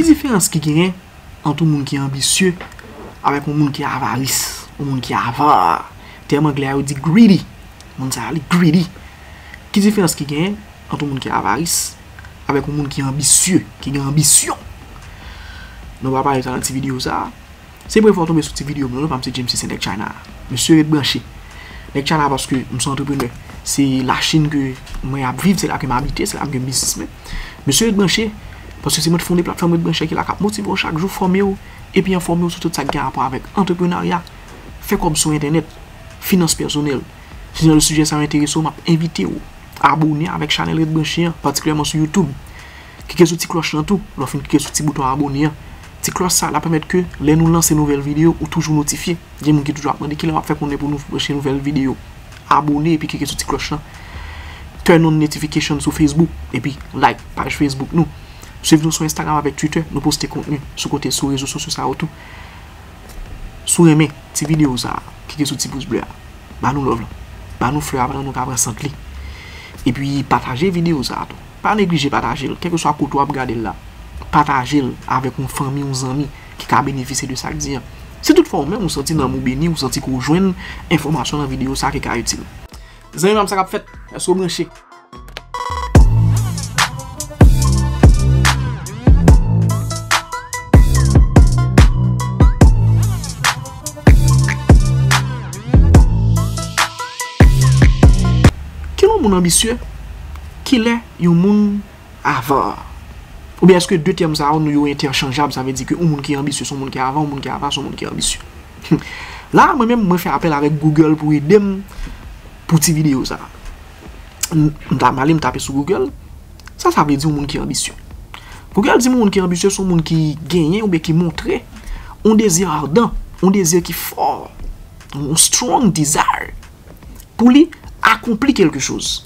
Ki diferans ki genyen ant yon moun ki anbisye avèk yon moun ki avaris, yon moun ki avare? Tèm anglè a yo di greedy, moun sa a li greedy. Ki diferans ki genyen ant yon moun ki avaris avèk yon moun ki anbisye, ki gen anbisyon? Nou va pale sa nan ti videyo sa a. Se premye fwa w tonbe sou ti video mwen wi pam se James se nèg China a mesye ret branche nèg China a paske m son antreprenè se la chine ke mwen ap viv se la ke m abite se la m gen biznis mwen mesye ret branche paske se mwen t fonde platfòm ret branche ki la kap motive w chak jou fòme w epi enfòme w sou tout sa ki gen rapò avèk antreprenarya fè kòb sou entènèt finans pèsonèl si jan de sijè sa yo enterese w map envite w abone avèk chanèl ret branche an patikilyèman sou YouTube. Klike sou ti klòch lan tou lè w fin klike sou ti bouton abone an. Ti klòch sa la pèmèt ke lè nou lanse nouvèl videyo ou toujou notifye. Gen moun ki toujou ap mande kilè wap fè konnen pou nou poste nouvèl videyo. Abone epi klike sou ti klòch lan. Turn on notification sou Facebook epi like paj Facebook nou. Swiv nou sou Instagram avèk Twitter, nou poste kontni sou kote sou rezo sosyo sa yo tou. Si w renmen ti videyo sa, klike sou ti pous ble a. Ba nou love lan. Ba nou flè a pandan nou ka pran sant li. Epi pataje videyo sa tou. Pa neglije pataje l, kèlkeswa kote w ap gade l la. Pataje l avèk yon fanmi, yon zanmi ki ka benefisye de sa k di an. Si toutfwa ou menm ou santi nanm ou beni, ou santi ke w jwenn enfòmasyon nan videyo sa ki ka itil. Zanmi pa m sa k ap fèt? Èske w branche? Kilè yon moun anbisye? Kilè yon moun avar? Oubyen eske 2 tèm sa yo nou yo entèchanjab, sa vle di ke yon moun ki anbisye se yon moun ki avar, yon moun ki avar se yon moun ki anbisye. La a mwen menm mwen fè apèl avèk Google pou ede m pou ti videyo sa a. M ta male m tape sou Google, sa sa vle di yon moun ki anbisye? Google di m yon moun ki anbisye se yon moun ki genyen oubyen ki montre yon dezi ardan, yon dezi ki fò, yon strong desire. pou li akonpli kelke choz.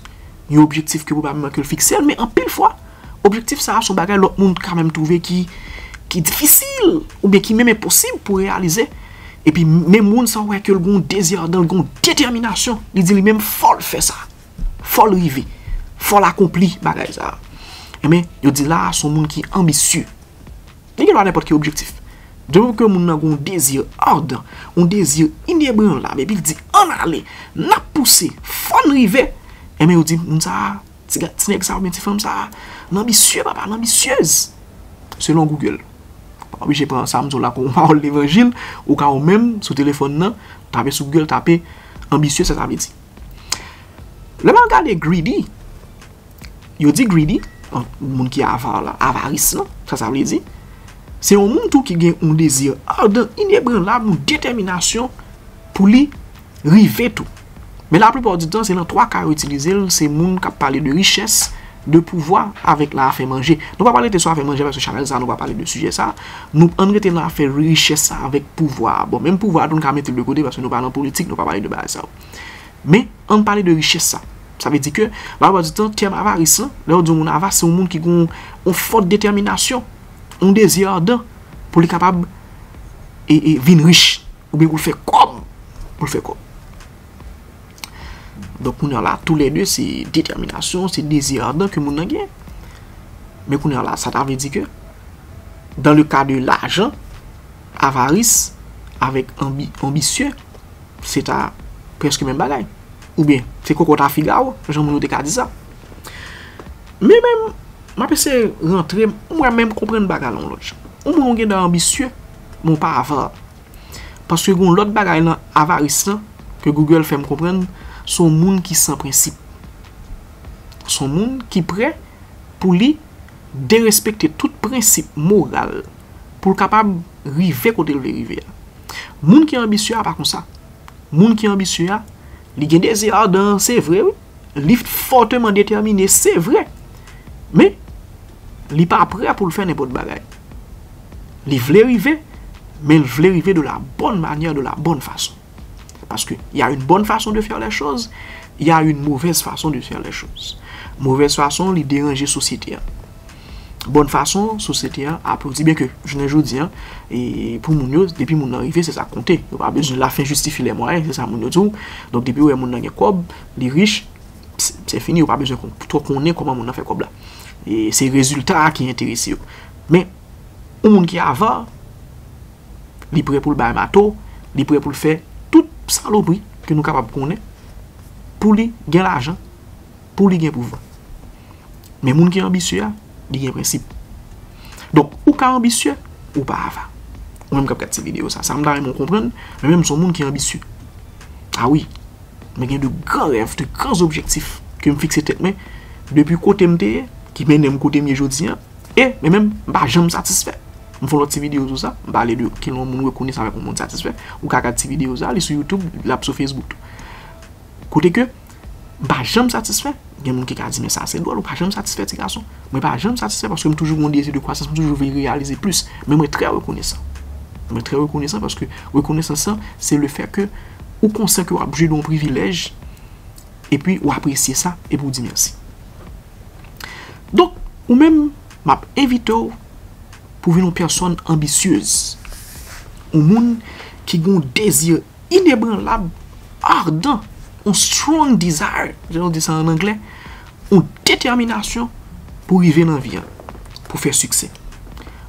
Yon objektif ke pwobableman ke l fikse l, men anpil fwa, objektif sa a son bagay lòt moun ka menm twouve ki difisil, oubyen ki menm enposib pou reyalize. E pi menm moun sa a wè ke l gon dezi adan, l gon detèminasyon, li di li menm fò l fè sa. Fò l rive. Fò l akonpli bagay sa a. Enben, yo di la a son moun ki anbisye. Li gen dwa nenpòt ki objektif. De moman ke moun nan gen yon dezi ardan, yon dezi inebranlab epi l di ann ale, n ap pouse, fò n rive, enben yo di moun sa a, ti nèg sa a oubyen ti fanm sa a, l anbisye papa, l anbisyez. Selon Google. Ou pa oblije pran sa m di w la kòm yon pawòl levanjil, ou ka ou menm sou telefòn nan, tape sou Google, tape anbisye sa sa vle di. Lè m al gade greedy. yo di greedy, moun ki avar la, avaris lan, sa sa vle di, se yon moun tou ki gen yon dezi ardan, inebranlab, yon detèminasyon pou li rive tou. Men la plupart du tan, se lan 3 ka yo itilize l, se moun k ap pale de richès, de pouvwa, avèk lan afè manje. Nou pa pral rete sou afè manje paske chanèl sa a nou pa pale de sijè sa a. Nou ann rete lan afè richès la avèk pouvwa a. Bon, menm pouvwa a tou n ka mete l de kote paske nou pa lan politik, nou pa pale de bagay sa yo. Men, ann pale de richès sa. Sa vle di ke, laplupart du tan, tèm avaris lan, lè yo di yon moun avare, se yon moun ki gen yon fòt detèminasyon, yon dezi ardan, pou li kapab vin rich, oubyen pou l fè kòb, pou l fè kòb. Donk kounye an la, tou lè de, se detèminasyon, se dezi ardan ke moun nan gen. Men kounye an la, sa ta vle di ke, dan le ka de lajan, avaris, avèk anbisyon, se ta prèske menm bagay. Oubyen, se kokot a figawo, jan moun yo te ka di sa. Men menm, m ap eseye rantre, mwen menm konprann bagay lan yon lòt jan. Yon moun ou gen dan anbisye, men w pa avar. Paske gen yon lòt bagay lan avaris lan, ke Google fè m konprann, se yon moun ki san prensip. Se yon moun ki prè pou li derespekte tout prensip moral pou l kapab rive kote l vle rive a. Moun ki anbisye a pa konsa. Moun ki anbisye a, li gen dezi adan, se vre wi, li fòteman detèmine, se vre, men, li pa prè pou l fè nenpòt bagay. Li vle rive, men l vle rive de la bòn manyè, de la bòn fason. Paske y a yon bon fason de fè lè choz, y a yon movèz fason de fè lè choz. Movèz fason li deranje sosyete an. Bon fason sosyete an aplodi. Byen ke jounen jodi an, pou moun yo, depi moun nan rive, se sa konte. Yo pa bezwen la fen jistifi lè mwayen, se sa moun yo di w. Donk depi yo wè moun nan gen kòb, li rich, se fini, yo pa bezwen twò konnen kòman moun nan fè kòb la. Se rezilta a ki enterese yo. Men, yon moun ki ava. li prè pou l bay mato, li prè pou l fè tout salopri ke nou kapab konnen pou li gen lajan, pou li gen pouvwa. Men moun ki anbisye a, li gen prensip. Donk, ou ka anbisye, ou pa ava. Ou menm k ap gad ti videyo sa, sa m ta renmen w konprann, mwen menm m se yon moun ki anbisye. A wi, mwen gen de gran rèv, de gran objektif ke m fikse tèt mwen depi kote m te ye, ki mennen m kote m ye jodi an. E, men menm, m pa janm satisfè. M fè yon lòt ti videyo sou sa. M pale de kilè yon moun rekonnen sa avèk yon moun satisfè. Ou ka gad ti videyo sa a. Li sou YouTube, l ap sou Facebook tou. Kote ke, m pa janm satisfè. Gen moun ki ka di men sa se dwòl, ou pa janm satisfè ti gason. Mwen pa janm satisfè paske m toujou gen yon dezi de kwasans, m toujou vle reyalize plis. Men mwen trè rekonesan. Mwen trè rekonesan paske rekonesans lan se le fè ke ou konsyan ke w ap jwi de yon privilèj epi ou apresye sa epi ou di mèsi. Donk, ou menm, m ap envite w pou vin yon pèsòn anbisyez. Yon moun ki gen yon dezi inebranlab, ardan, yon strong desire, jan yo di sa an anglè, yon detèminasyon pou rive nan vi a, pou fè siksè.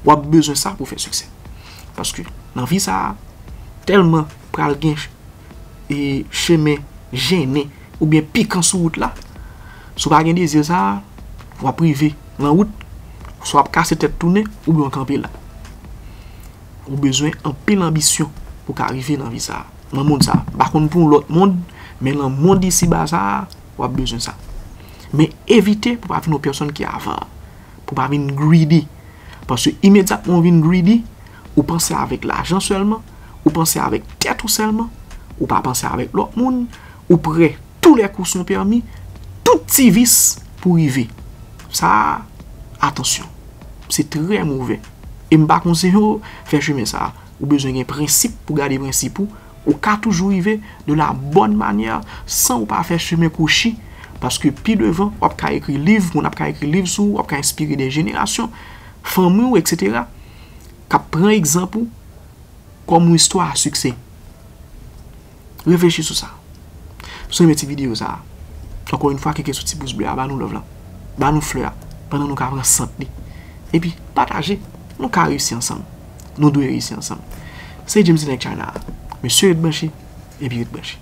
W ap bezwen sa pou fè siksè. Paske, nan vi sa a, tèlman pral gen chemen jennen. Ou byen pikan sou wout la. Si w pa gen dezi sa a, w ap rive nan wout, swa w ap kase tèt tounen ou byen w kanpe la. Ou bezwen anpil anbisyon pou w ka rive nan vi sa a, nan mond sa a. M pa konn pou yon lòt mond, men nan mond isi ba sa a, w ap bezwen sa. Men evite pou w pa vin yon pèsonn ki avare, pou w pa vin greedy. Paske imedyatman ou vin greedy, ou panse avèk lajan sèlman, ou panse avèk tèt ou sèlman, ou pa panse avèk lòt moun, Ou prè, tou lè kou son pèmi, tout ti vis pou rive. Sa a, atansyon. Se trè movè. E m pa konseyen w fè chemen sa a. Ou bezwen gen prensip pou gade prensip ou. Ou ka toujou rive de la bòn manyè san ou pa fè chemen kwochi paske pi devan w ap ka ekri liv, moun ap ka ekri liv sou ou, w ap ka enspire dè jenerasyon, fanmi w eksetera k ap pran egzanp ou kòm yon istwa a siksè. Reflechi sou sa. Si w renmen ti videyo sa a, ankò yon fwa klike sou ti pous ble a, ba nou love la, ba nou flè a, pandan nou ka pran sant li. Epi, pataje, nou ka reyisi ansanm. Nou dwe reyisi ansanm. Se James T. Nèg China a. Mesye ret branche, epi ret branche.